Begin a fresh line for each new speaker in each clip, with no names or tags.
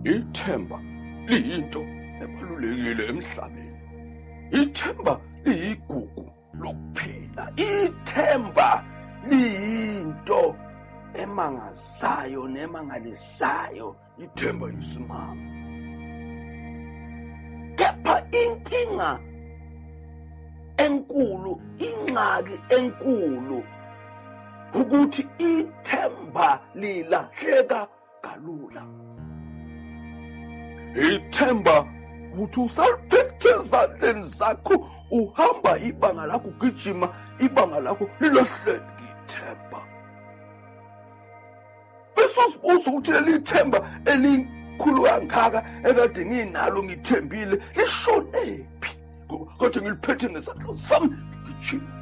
Ithemba liyinto ebalulekile emhlabeni. Ithemba liyigugu lokuphila. Ithemba liyinto emangazayo nemangalisayo. ngithemba yisimama kepha inkinga enkulu ingxaki enkulu ukuthi ithemba lilahleka kalula ithemba ukuthi usaliphethe ezandleni zakho uhamba ibanga lakho ugijima ibanga lakho lilahleke ithemba bese uzibuza ukuthi leli themba elikhulu kangaka ekade nginalo ngithembile lishonephi kodwa ngiliphethe ngezandla zami ngijima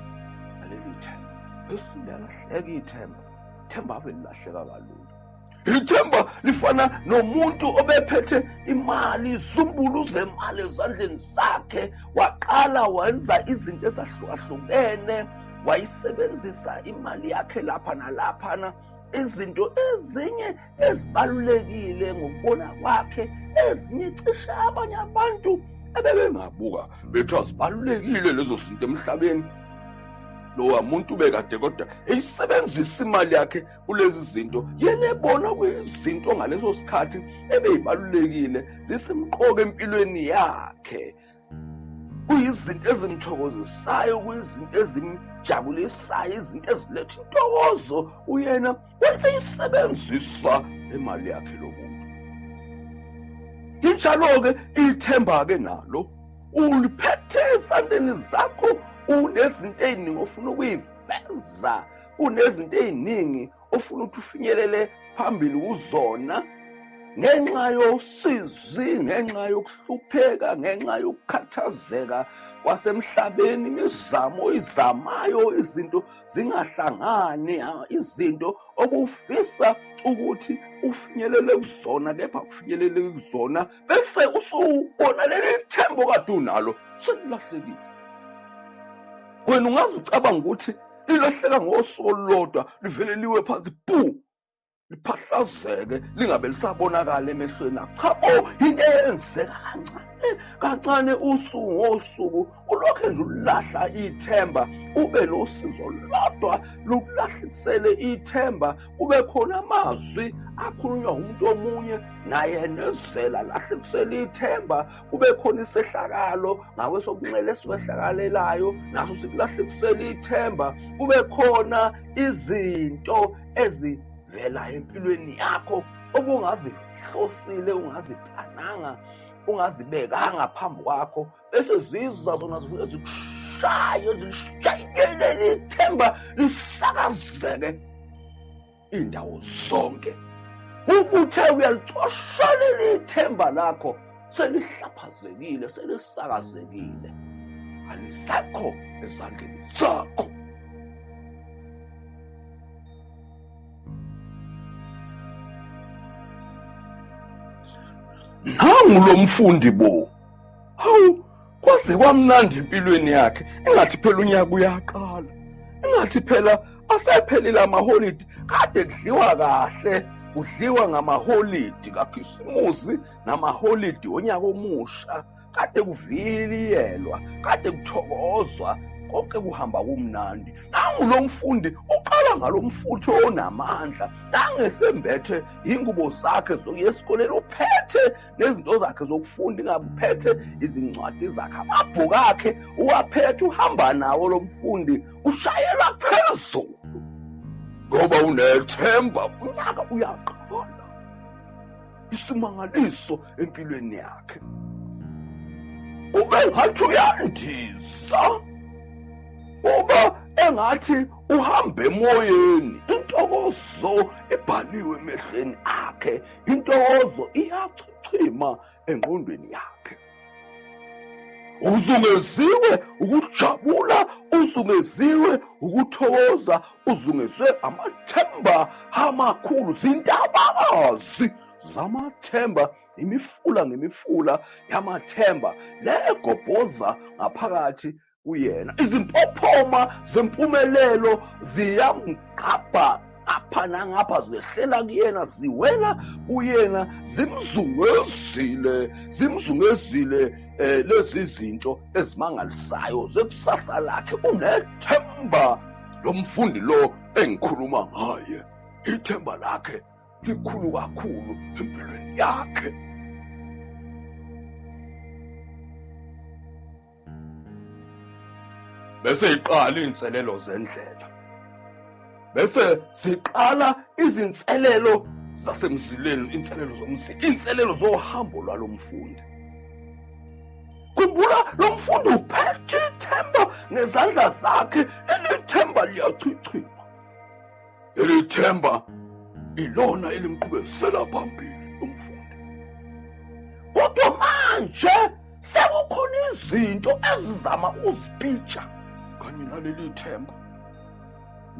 naleli themba bese liyalahleka ithemba ithemba ave lilahleka kalula ithemba lifana nomuntu obephethe imali izumbulu zemali ezandleni zakhe waqala wenza izinto ezahlukahlukene wayisebenzisa imali yakhe lapha nalaphana izinto ezinye ezibalulekile ngokubona kwakhe ezinye cishe abanye abantu ebebengabuka bethi azibalulekile lezo zinto emhlabeni lowa muntu bekade kodwa eyisebenzisa imali yakhe kulezi zinto yena ebona kuyizinto ngaleso sikhathi ebeyibalulekile zisimqoka empilweni yakhe kuyizinto ezimthokozisayo kuyizinto ezimjabulisayo izinto eziletha intokozo uyena wayeseyisebenzisa le mali yakhe lo muntu injalo-ke ithemba-ke nalo uliphethe esandleni zakho unezinto ey'ningi ofuna ukuyiveza unezinto ey'ningi ofuna ukuthi ufinyelele phambili kuzona ngenxa yosizi ngenxa yokuhlupheka ngenxa yokukhathazeka kwasemhlabeni imizamo oyizamayo izinto zingahlangani izinto obufisa ukuthi ufinyelele kuzona kepha kufinyelele kuzona bese usubona leli thembo kade unalo selilahlekile wena ungaze ucabanga ukuthi lilahleka ngosuku olulodwa livele liwe phansi bu liphahlazeke lingabe lisabonakala emehlweni akho cha bo yinto eyenzeka kancane kancane usuku ngosuku ulokhu nje ulahla ithemba ube nosizo lodwa lokulahlisele ithemba kube khona amazwi akhulunywa umuntu omunye naye nezela lahle kusele ithemba kube khona isehlakalo ngakwesokunxele esiwehlakalelayo naso sikulahlekisela ithemba kube khona izinto ezivela empilweni yakho obungazihlosile ungaziplananga ungazibekanga phambi kwakho bese zizwa zona zifike zikushaye zilishayelele ithemba lisakazeke indawo zonke ukuthe uyalicoshelela ithemba lakho selihlaphazekile selisakazekile alisekho ezandleni zakho nangu lo mfundi bo hawu kwaze kwamnandi empilweni yakhe engathi phela unyaka uyaqala engathi phela asephelile amaholidi kade kudliwa kahle kudliwa ngamaholidi kakhisimusi namaholidi onyaka omusha kade kuviliyelwa kade kuthokozwa konke kuhamba kumnandi nangu lo mfundi uqala ngalo mfuthi onamandla nangesembethe yingubo zakhe zokuya esikoleni uphethe nezinto zakhe zokufunda ingabe uphethe izincwadi zakhe amabhuku akhe uwaphethe uhamba nawo lo mfundi ushayela phezulu ngoba unethemba unyaka uyaqala isimangaliso empilweni yakhe ube ngathi uyandisa uba engathi uhamba emoyeni intokozo ebhaliwe emehlweni akhe intokozo iyachichima engqondweni yakhe uzungeziwe ukujabula uzungeziwe ukuthokoza uzungezwe amathemba amakhulu zintabakazi zamathemba imifula ngemifula yamathemba legobhoza ngaphakathi kuyena izimpophoma zempumelelo ziyamgqabha apha nangapha zehlela kuyena ziwela kuyena zimzungezile zimzungezile eh lezi zinto ezimangalisayo zekusasa lakhe unethemba lomfundi lo engikhuluma ngaye ithemba lakhe likhulu kakhulu empilweni yakhe bese iqala izinselelo zendlela bese siqala izinselelo zasemzileni inselelo zomzila inselelo zohambo lwalomfundi khumbula lo mfundi uphethe ithemba ngezandla zakhe elithemba liyachichima Leli themba ilona elimqhubezela phambili umfundi. Kodwa manje sekukhona izinto ezizama uzipitsha kanye naleli themba.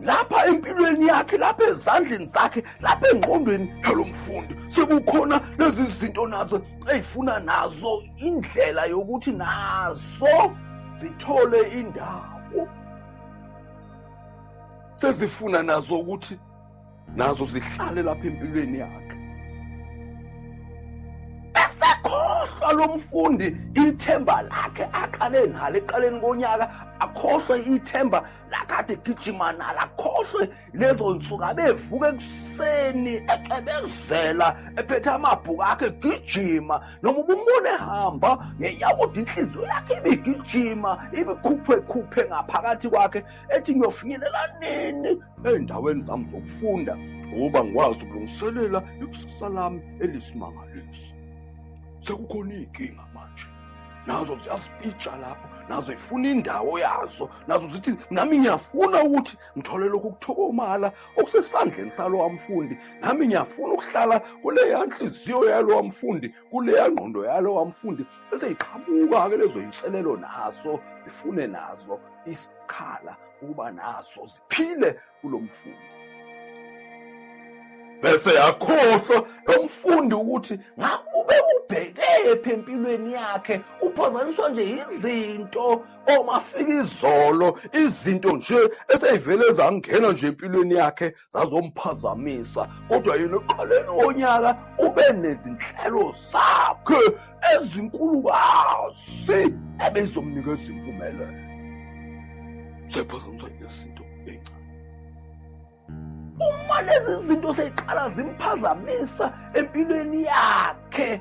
Lapha empilweni yakhe, lapha ezandleni zakhe, lapha engqondweni yalomfundi sekukhona lezi zinto nazo ezifuna nazo indlela yokuthi nazo zithole indawo. sezifuna nazo ukuthi nazo zihlale lapha empilweni yakhe esekhohlwa lo mfundi ithemba lakhe aqale nalo eqaleni konyaka akhohlwe ithemba lakade gijima nalo akhohlwe lezo nsuku abevuka ekuseni ecebezela ephethe amabhuku akhe egijima noma ubumbone ehamba ngeyawude inhliziyo yakhe ibigijima ibikhuphwekhuphe ngaphakathi kwakhe ethi ngiyofinyelela nini ey'ndaweni zami zokufunda ngoba ngikwazi ukulungiselela ikusasa lami elisimangaliso sekukhona iy'nkinga manje nazo ziyazipitsha lapho nazo ifuna indawo yazo nazo zithi nami ngiyafuna ukuthi ngithole lokhu kuthokomala okusesandleni salowa mfundi nami ngiyafuna ukuhlala kuleya nhliziyo yalowa mfundi kuleya ngqondo yalowa mfundi seseyiqhamuka-ke lezo yinselelo nazo zifune nazo isikhala ukuba nazo ziphile kulo mfundi bese yakhohlwa lo mfundi ukuthi ngakube ubhekephi empilweni yakhe uphazaniswa nje yizinto omafika izolo izinto nje eseyivele zangena nje empilweni yakhe zazomphazamisa kodwa yena eqaleni wonyaka ube nezinhlelo zakhe ezinkulukazi ebezomnikeza impumelelo sephazamisa izinto encane uma lezi zinto seyiqala zimphazamisa empilweni yakhe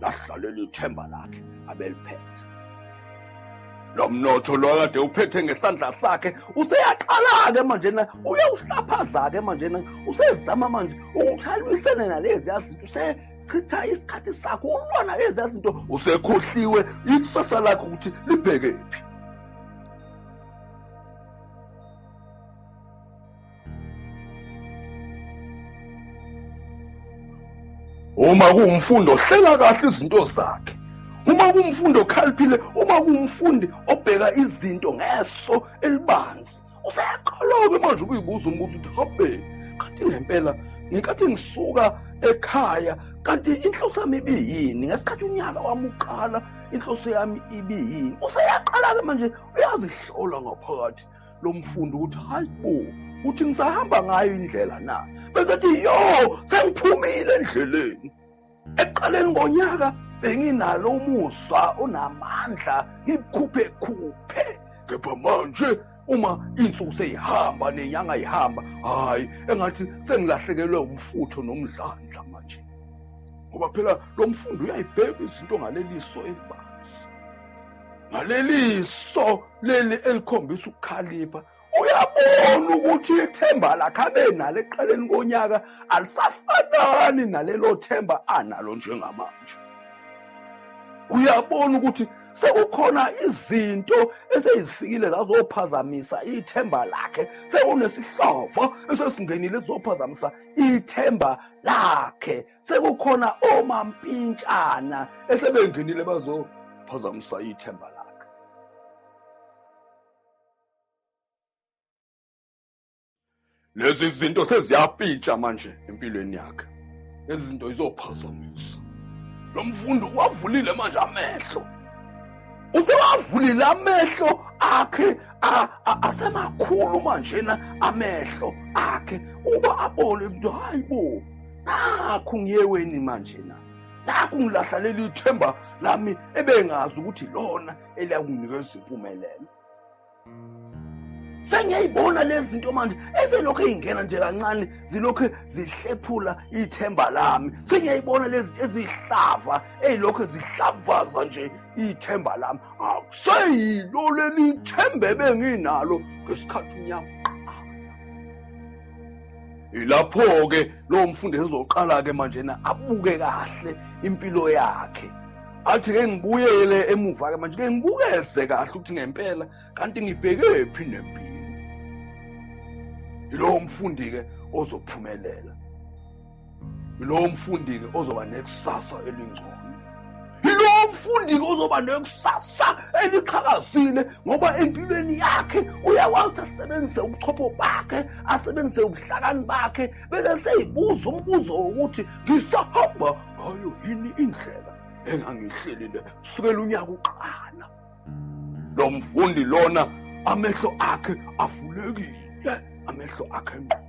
lahlalela ithemba lakhe abeliphethe lo mnotho lo kade uphethe ngesandla sakhe useyaqala-ke manjena uyawuhlaphaza-ke manjena usezama manje ukuthi alwisene nalezi yazinto usechitha isikhathi sakho ulwana lezi yazinto usekhohliwe ikusasa lakhe ukuthi libheke phi uma kuwumfundi ohlela kahle izinto zakhe uma kuwumfundi okhaliphile uma kuwumfundi obheka izinto ngeso elibanzi useyakholoke manje ukuyibuza umbuzo ukuthi habe kanti ngempela ngenkathi ngisuka ekhaya kanti inhloso yami ibiyini ngesikhathi unyaka wami uqala inhloso yami ibiyini useyaqala-ke manje uyazihlola ngaphakathi lo mfundi ukuthi hayi bo uthi ngisahamba ngayo indlela na bese ethi yo sengiphumile endleleni ekuqaleni ngonyaka benginalo umusa onamandla ngikhuphe khuphe kepha manje uma insuku seyihamba nenyanga ihamba hayi engathi sengilahlekelwe umfutho nomdlandla manje ngoba phela lo mfundi uyayibheka izinto ngaleliso elibanzi ngaleli so leli elikhombisa ukukhalipha uyabona ukuthi ithemba lakhe abe nalo ekuqaleni konyaka alisafanani nalelo themba analo njengamanje uyabona ukuthi sekukhona izinto eseyizifikile zazophazamisa ithemba lakhe sekunesihlobo esesingenile sizophazamisa ithemba lakhe sekukhona omampintshana esebengenile bazophazamisa ithemba lakhe lezi zinto seziyapintsha manje empilweni yakhe lezi zinto izophazamisa lo mfundi uwavulile manje amehlo usewavulile amehlo akhe asemakhulu manjena amehlo akhe uba abone ukuthi hayi bo nakhu ngiyeweni manje na nakhu ngilahlaleli ithemba lami ebengazi ukuthi lona eliyakunikeza izimpumelelo sengiyayibona lezi zinto manje eselokhu ey'ngena nje kancane zilokhu zihlephula ithemba lami sengiyayibona lezi zinto eziyihlava ey'lokhu zihlavaza nje ithemba lami akuseyilo leli themba ebenginalo ngesikhathi unyama Ilapho-ke lowo mfundi ezoqala-ke manje na abuke kahle impilo yakhe athi ke ngibuyele emuva-ke manje ke ngibukeze kahle ukuthi ngempela kanti ngibhekephi nempilo yilowo mfundi-ke ozophumelela yilowo mfundi-ke ozoba nekusasa elingcono yilowo mfundi-ke ozoba nekusasa eliqhakazile ngoba empilweni yakhe uyakwazi ukuthi asebenzise ubuchopho bakhe asebenzise ubuhlakani bakhe bese seyibuza umbuzo wokuthi ngisahamba ngayo yini indlela engangihlelile kusukela unyaka uqala lo mfundi lona amehlo akhe avulekile amehlo akhe ngqo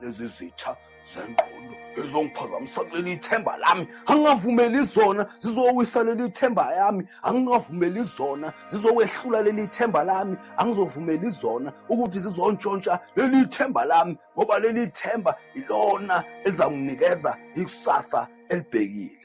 lezi zitha zengqondo ezongiphazamisa kuleli ithemba lami angingavumeli zona zizowisa leli ithemba yami angingavumeli zona zizowehlula leli ithemba lami angizovumeli zona ukuthi zizontshontsha leli ithemba lami ngoba leli ithemba ilona elizanginikeza ikusasa elibhekile